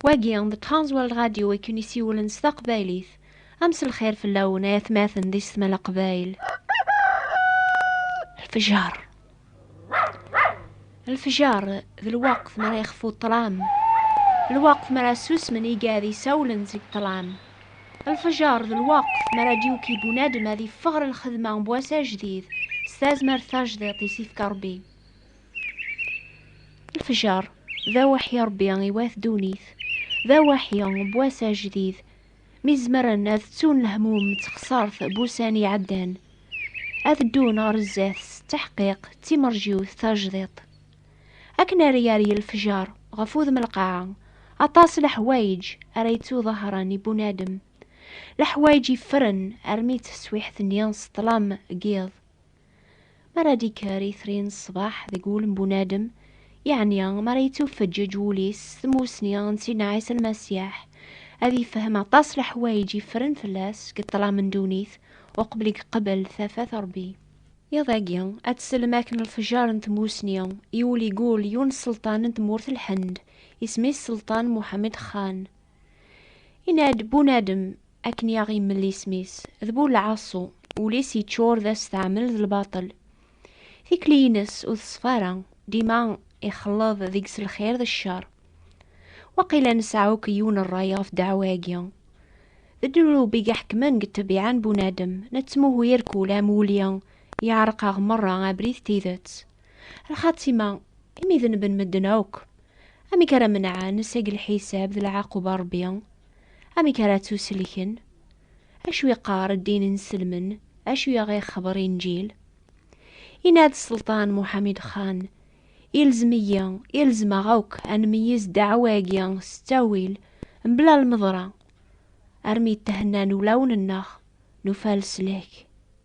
Wagi d Transworld Radio i ken-isiwlen s taqbaylit. A mselxir fell-awen ay atmaten di Setma Leqbayel. Lfejer. Lfejer d lweqt mi ara yexfu ṭṭlam. Lweqt mi ara susmen igad isawlen seg ṭṭlam. Lfejer d lweqt mi ara d-yuki bunadem ad yeffeɣ ɣer lxedma n wass ajdid s tazmert tajdiṭ i s-yefka Rebbi. Lefjer, d awaḥi Ṛebbi i wat ddunit, d awaḥi n wass ajdid, mi zemren ad ttun lehmum d texṣert n wussan iɛeddan, ad ddun ɣer zdat s ttaḥqiq d timerjiwt tajdiṭ. Akken ara yerr lefjer ɣef wudem lqaɛa, aṭas n leḥwayeǧ ara yettuḍahṛen i bunadem, leḥwayeǧ yeffren armi d taswiḥt-nni s ṭṭlam n yiḍ. Mi ara d-ikker itri n ṣṣbeḥ deg wul n bunadem, yeɛni mi ara yettufeǧǧeǧ wul-is s tmussni n Sidna Ɛisa Lmasiḥ, ad ifhem aṭas leḥwayeǧ yeffren fell-as deg ṭṭlam n ddunit uqbel i yeqbel tafat n Ṛebbi. Iḍ-agi, ad tsellem akken lefjer n tmussni i wul igul yiwen n sselṭan n tmurt n Lhend, isem-is Selṭan Muḥamed Xan. Yenna-d bunadem akken i aɣ-immel isem-is, d bu lɛaṣu, ul-is yeččur d asteɛmel d lbaṭel. Tikli-ines ur teṣfa ara, dima ixelleḍ deg-s lxir d ccer. Waqila nesɛa akk yiwen rray ɣef ddeɛwa-agi. D ddnub i iḥekmen deg ṭṭbiɛa n bunadem, nettmuhu irkul am wulli, yeɛreq-aɣ merra abrid d tidet. Lxatima, imi dneben medden akk, Amek ara menɛen seg lḥisab d lɛaqub a Rebbi? Amek ara ttuselken? Acu yeqqar ddin n selmen? Acu i aɣ-ixebber Inǧil? Yenna-d Selṭan Muḥamid Xan, Ilzem-iyi, ilzem-aɣ akk ad nmeyyez ddeɛwa-agi s ttawil, mebla lmeḍra, armi d-thennan ulawen-nneɣ, nufa leslak.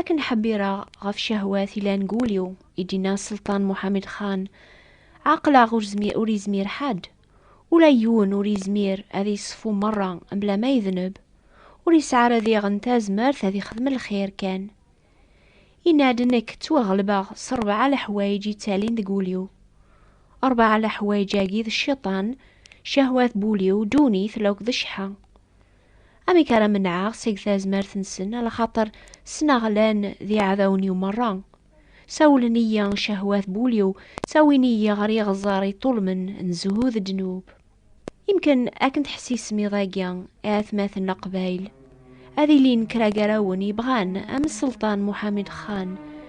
Akken ḥebbireɣ ɣef cahwat ilan deg wul-iw, i d-yenna Selṭan Muḥamed Xan, ɛeqleɣ ur zmir ur izmir ḥadd, ula yiwen ur izmir ad iṣfu merra mebla ma idneb, ur isɛi ara diɣen tazmert ad ixdem lxir kan. Yenna-d nekk ttwaɣelbeɣ s rebɛa leḥwayeǧ yettalin deg wul-iw. Rebɛa leḥwayeǧ-agi d cciṭan, cahwat, bul-iw, ddunit, lakk d cceḥḥa. Amek ara menɛeɣ seg tazmert-nsen, ala xaṭer ssneɣ llan d iɛdawen-iw merra. Sawlen-iyi cehwat bul-iw, ttawin-iyi ɣer yiɣẓer iṭṭulmen n zzhu d ddnub. Imken ad ken-tḥessisem iḍ-agi, a atmaten Leqbayel, ad ilin kra gar-awen yebɣan am Selṭan Muḥamed Xan,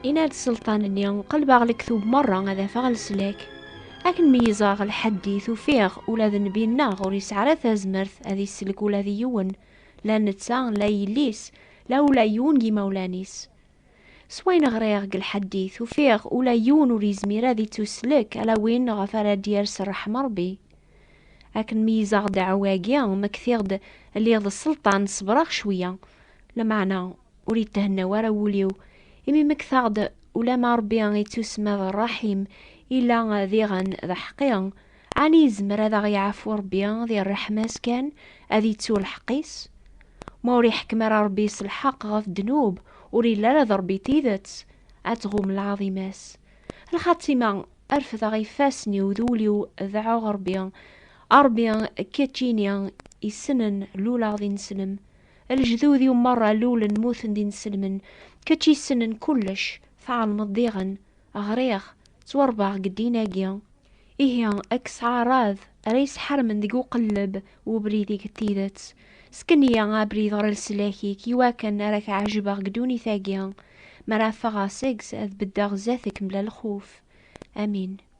Yenna-d sselṭan-nni, qelbeɣ lektub merra ad afeɣ leslak. Akken meyyzeɣ lḥaddit, ufiɣ ula d nnbi-nneɣ ur yesɛi ara tazmert ad isellek ula d yiwen, la netta, la yelli-s, la ula yiwen n yimawlan-is. S wayen ɣriɣ deg lḥaddit, ufiɣ ula yiwen ur yezmir ad ittuslek ala win ɣef ara d-yers ṛṛeḥma n Ṛebbi. Akken meyyzeɣ ddeɛwa-agi, ma ktiɣ-d lliɣ d sselṭan, ṣebreɣ cweyya, lameɛna, Ur yethenna wara wul-iw, imi mektaɣ-d ulamma Rebbi ittusma d Rraḥim, illa diɣen d aḥqi. Ɛni yezmer ad aɣ-yeɛfu Rebbi di rreḥma-s kan, ad ittu lḥeqq-is? Ma ur iḥekkem ara Rebbi s lḥeqq ɣef ddnub, ur illa ara d Rebbi tidet, ad tɣum lɛaḍima-s. Lxatima, refdeɣ ifassen-iw d wul-iw deɛɛuɣ Rebbi, A Rebbi, kečč ini, issnen luleɣ d ineslem. Lejdud-iw merra lulen muten d ineslmen, kečč yessnen kullec, tɛelmeḍ diɣen, ɣriɣ, ttwarebbaɣ deg ddin-agi. Ihi, ad k-sɛarad, ara yesḥarmen deg uqelleb n ubrid-ik n tidet. Sken-iyi abrid ɣer leslak-ik iwakken ara k-ɛejbeɣ deg ddunit-agi, mi ara ffɣeɣ seg-s ad beddeɣ zdat-k mebla lxuf. Amin.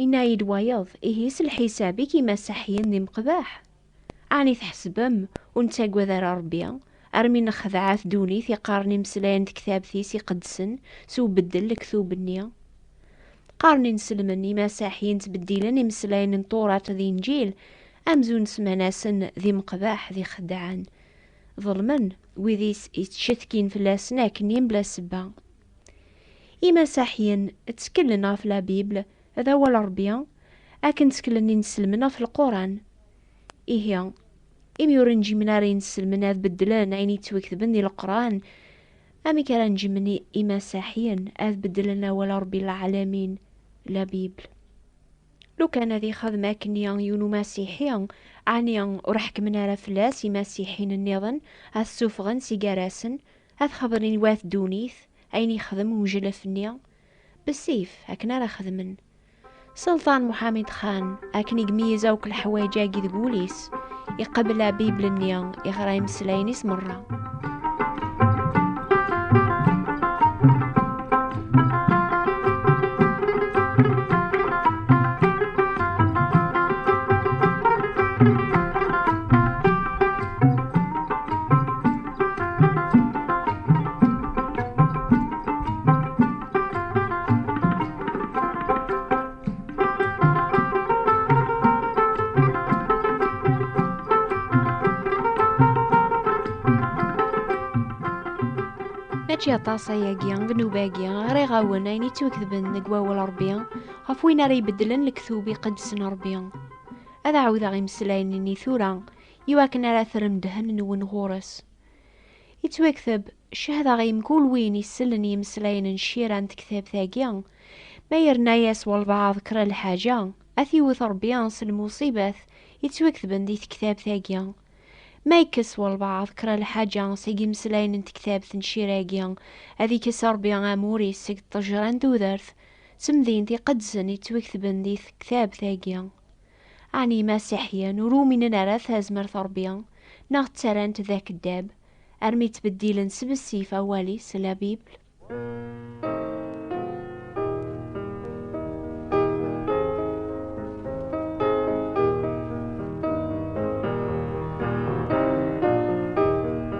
Yenna-yi-d wayeḍ, Ihi s lḥisab i k-imasaḥyen d imeqbaḥ? Ɛni tḥesbem ur nettagad ara Ṛebbi, armi nexdeɛ-a tdunit i qqaren imeslayen tektabt-is iqedsen s ubeddel lektub-nni? Qqaren ineslmen imasaḥyen ttbeddilen imeslayen n Tuṛat d Inǧil amzun semman-asen d imeqbaḥ d ixeddɛen. Ḍelmen wid i ttcetkin fell-asen akkenni mebla sebba. Imasaḥiyen tteklen ɣef la Bible, d awal n Rebbi, akken tteklen inselmen ɣef lquran. Ihi, imi ur njimen ara inselmen ad beddlen ayen yettwaketben di leqran, amek ara njimen imasaḥiyen ad beddlen awal n Rebbi lɛalamin, la Bible? Lukan ad ixdem akken-i yiwen umasiḥi, ɛni ur ḥekmen ara fell-as imasiḥiyen nniḍen, ad t-suffɣen si gar-asen, Ad xebren i wat ddunit ayen yexdem uneǧlaf-nni bessif akken ara xedmen. Selṭan Muḥamid Xan, akken i yemyez akk leḥwayeǧ-agi deg wul-is, iqebbel abibl-nni, iɣra imeslayen-is merra. mačči aṭas ayagi deg nnuba-agi ara iɣawen ayen yettwaketben deg wawal Ṛebbi ɣef win ara ibeddlen lektub iqedsen Ṛebbi. Ad ɛawdeɣ imeslayen-nni tura i wakken ara terrem ddhen-nwen ɣur-s. Yettwakteb, cehdeɣ i mkul win isellen yimeslayen n cira n tektabt-agi, ma yerna-yas walbaɛḍ kra lḥaǧa, ad t-iwwet Rebbi s lmuṣibat yettwaktben di tektabt-agi. Ma yekkes walbaɛḍ kra lḥaǧa seg yimeslayen n tektabt n cira-agi, ad ikkes Rebbi amur-is seg ṭṭejra n tudert, d temdint iqedsen yettwaktben di tektabt-agi. Ɛni Imasiḥiyen ur uminen ara ɣef tazmert n Ṛebbi, neɣ ttarran-t d akeddab, armi ttbeddilen s bessif awal-is, la Bible?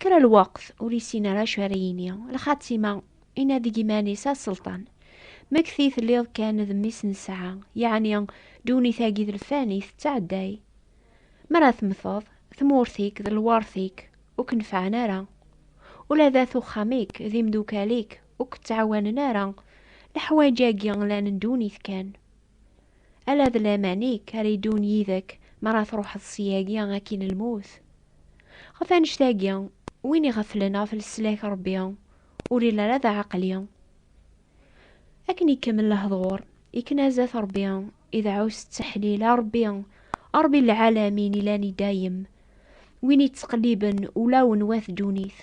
Kra lweqt ur yessin ara acu ara yini, lxatima inadi deg iman-is a Selṭan, mekti telliḍ kan d mmi-s n ssaɛa, yeɛni ddunit-agi d lfani tettɛedday, mi ara temmteḍ, tmurt-ik d lwert-ik ur k-nefɛen ara, ula d at uxxam-ik d imdukal-ik ur k-ttɛawanen ara, leḥwayeǧ-agi llan n ddunit kan. Ala d laman-ik ara yeddun yid-k mi ara truḥeḍ syagi akkin lmut. Ɣef annect-agi, win iɣeflen ɣef leslak n Rebbi ur ili ara d aɛeqli. Akken ikemmel lehdur, ikna zdat Rebbi, ideɛɛu s ttaḥlil, A Rebbi, a Rebbi n lɛalamin ilan i dayem, win yettqelliben ulawen wat ddunit.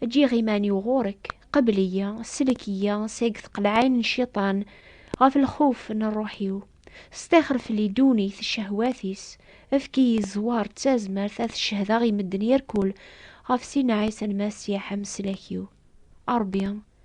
Ǧǧiɣ iman-iw ɣur-k, qebl-iyi, sellek-iyi seg tqelɛayn n cciṭan, ɣef lxuf n rruḥ-iw. Stixer fell-i ddunit, ccehwat-is, efk-iyi zzwar d tazmert ad t-cehdeɣ i medden irkul ɣef Sidna Ɛisa Lmasiḥ, ameslak-iw. A Ṛebbi!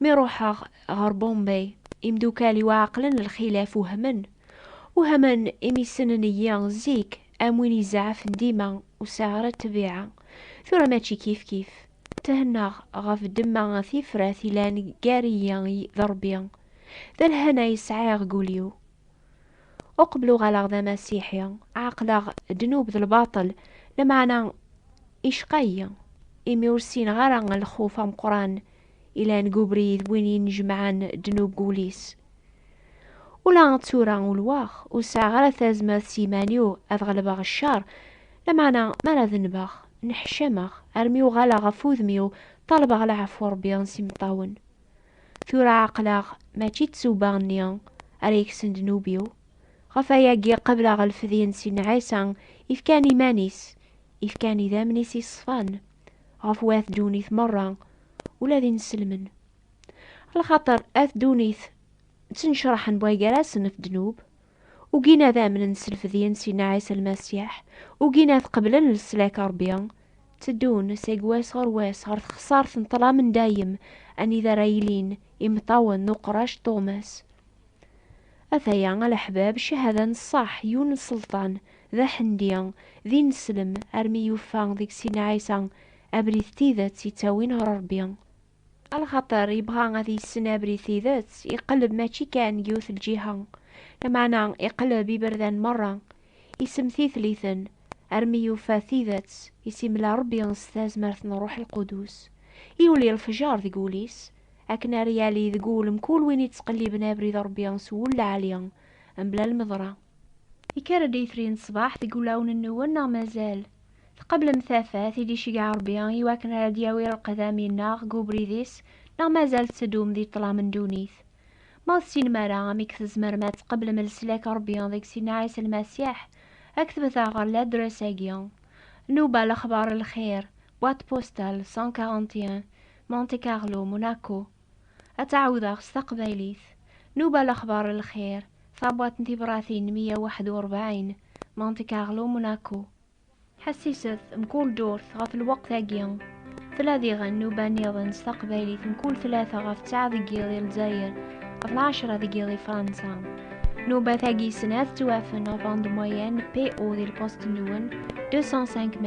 Mi ruḥeɣ ɣer Bombay, imdukal-iw ɛeqlen lxilaf wehmen. Wehmen imi ssnen-iyi zik am win izeɛɛfen dima ur sɛiɣ ara ṭṭbiɛa. Tura mačči kifkif. Thennaɣ ɣef ddemma tifrat yellan gar-iyi d Ṛebbi. D lehna i sɛiɣ deg wul-iw. Uqbel uɣaleɣ d amasiḥi, ɛeqleɣ ddnub d lbaṭel, lameɛna icqa-yi imi ur ssineɣ ara lxuf ameqqran ilan deg ubrid win yennejmaɛen ddnub deg wul-is. Ula d tura ulwaɣ, ur sɛiɣ ara tazmert s yiman-iw ad ɣelbeɣ ccer, lameɛna mi ara dennbeɣ, nneḥcameɣ, armi uɣaleɣ ɣef wudem-iw ṭṭalbeɣ leɛfu n Rebbi s imeṭṭawen. Tura ɛeqleɣ mačči d tsuba-nni ara yekksen ddnub-iw, ɣef ayagi qebleɣ lfedye n Sidna Ɛisa ifkan iman-is, ifkan idammen-is iṣfan, ɣef wat ddunit merra, ula d ineslmen. Lxaṭer at ddunit ttnecraḥen bɣa gar-asen ɣef ddnub, ugin ad amnen s lfedyen Sidna Ɛisa Lmasiḥ, ugin ad qeblen leslak n Rebbi, tteddun seg wass ɣer wass ɣer texsart n ṭṭlam n dayem anida ara ilin imeṭṭawen n uqrac n tuɣmas. Ataya a leḥbab cahada n ṣṣeḥ yiwen n ṣelṭan d aḥendi, d ineslem armi yufa deg Sidna Ɛisa abrid n tidet yettawin ɣer Rebbi. A lxaṭer yebɣa ad yessen abrid tidet, iqelleb mačči kan deg yiwet lǧiha, lameɛna iqelleb iberdan merra, isemtitel-iten, armi yufa tidet i s-imla Rebbi s tazmert n Ṛṛuḥ Lqudus. Yuli lefjer deg wul-is, akken ara yali deg wul mkul win yettqelliben abrid n Ṛebbi s wul lɛali, mebla lmeḍra. Yekker-d yitri n ṣṣbeḥ deg wulawen-nwen neɣ mazal? Tqeblem tafat i d-iceggeɛ Ṛebbi i wakken ara d-yawi lqedam-inneɣ deg ubrid-is neɣ mazal tetteddum di ṭṭlam n ddunit? Ma ur tessinem ara amek tzemrem ad tqeblem leslak n Ṛebbi deg Sidna Ɛisa Lmasiḥ, aktbet-aɣ ɣer ladres-agi, Nnuba Lexbar n Lxir, Boîte Postale 141, Monte Carlo, Monaco. Ad tɛawdeɣ s taqbaylit. Nuba Lexbar Lxir, Tabwaṭ n tibratin meyya waḥed u rebɛin, Monte Carlo, Monaco. Ḥessiset, mkul ddurt, ɣef lweqt-agi. Tella diɣen nuba nniḍen s taqbaylit mkul tlata ɣef ttɛa deg yiḍ i Lezzayer, ɣef lɛecra deg yiḍ i Fransa. Nuba tagi snat ttwafen ɣef bande moyenne PO di lpost-nwen, 205 m.